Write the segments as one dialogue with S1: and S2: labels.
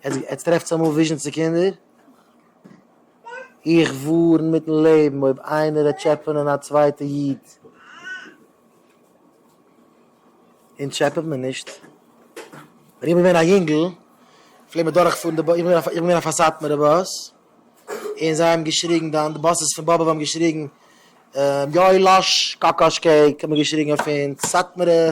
S1: עטס טרעפטס אמאל וויזשען צו קינדער? איך ווארן מיטן לעבן אויב איינער וועט טשעפענען א צווייטע איד. אונז טשעפעט מען נישט. ווען איך בין געווען א יונגל פלעגט מען דורך פארן די באס, איך בין איך בין געווען אויף א סאטמארע באס, און זיי האבן געשריגן דאן די באסעס פון באבוב האבן געשריגן יואלאש קאקאש קעיק האט מען געשריגן אויף אונז סאטמארע.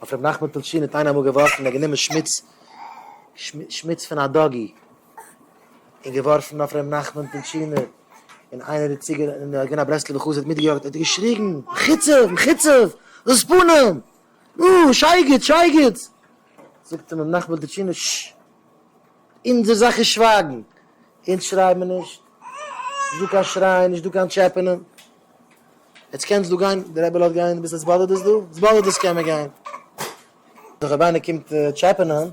S1: אויף רבי נחמן פלשין האט איינער אמאל געווארפן ער האט גענומען שמוץ שמוץ פון א דאגי און געווארפן אויף רבי נחמן פלשינער און איינער איז צוגע און ער איז געווען א ברסלב'ער חסיד האט מיטגעיאגט ער האט געשריגן מחוצף מחוצף דאס פנים נו שייגעץ שייגעץ זאגט אים רבי נחמן פלשינער ש. אונזער זאך איז שווייגן, אונז שרייען מיר נישט, נישט דא קיין שרייען, נישט דא קיין טשעפענען. עטס קענטס דא גיין, די רבי לאזט גיין, ביז עס באדערט עס דא? עס באדערט עס קען מען גיין. דאך אויב איינער קומט טשעפענען,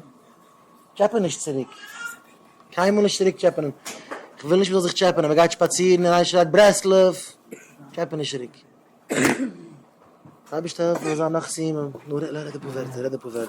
S1: טשעפען נישט צוריק, קיינמאל נישט צוריק טשעפענען, כ'וויל נישט מ'זאל זיך טשעפענען, מ'גייט שפאצירן און איינער שרייט ברסלב, טשעפען נישט צוריק. אייבערשטער העלף מיר זיין נאך סיומים, נו רעד אפאר ווערטער.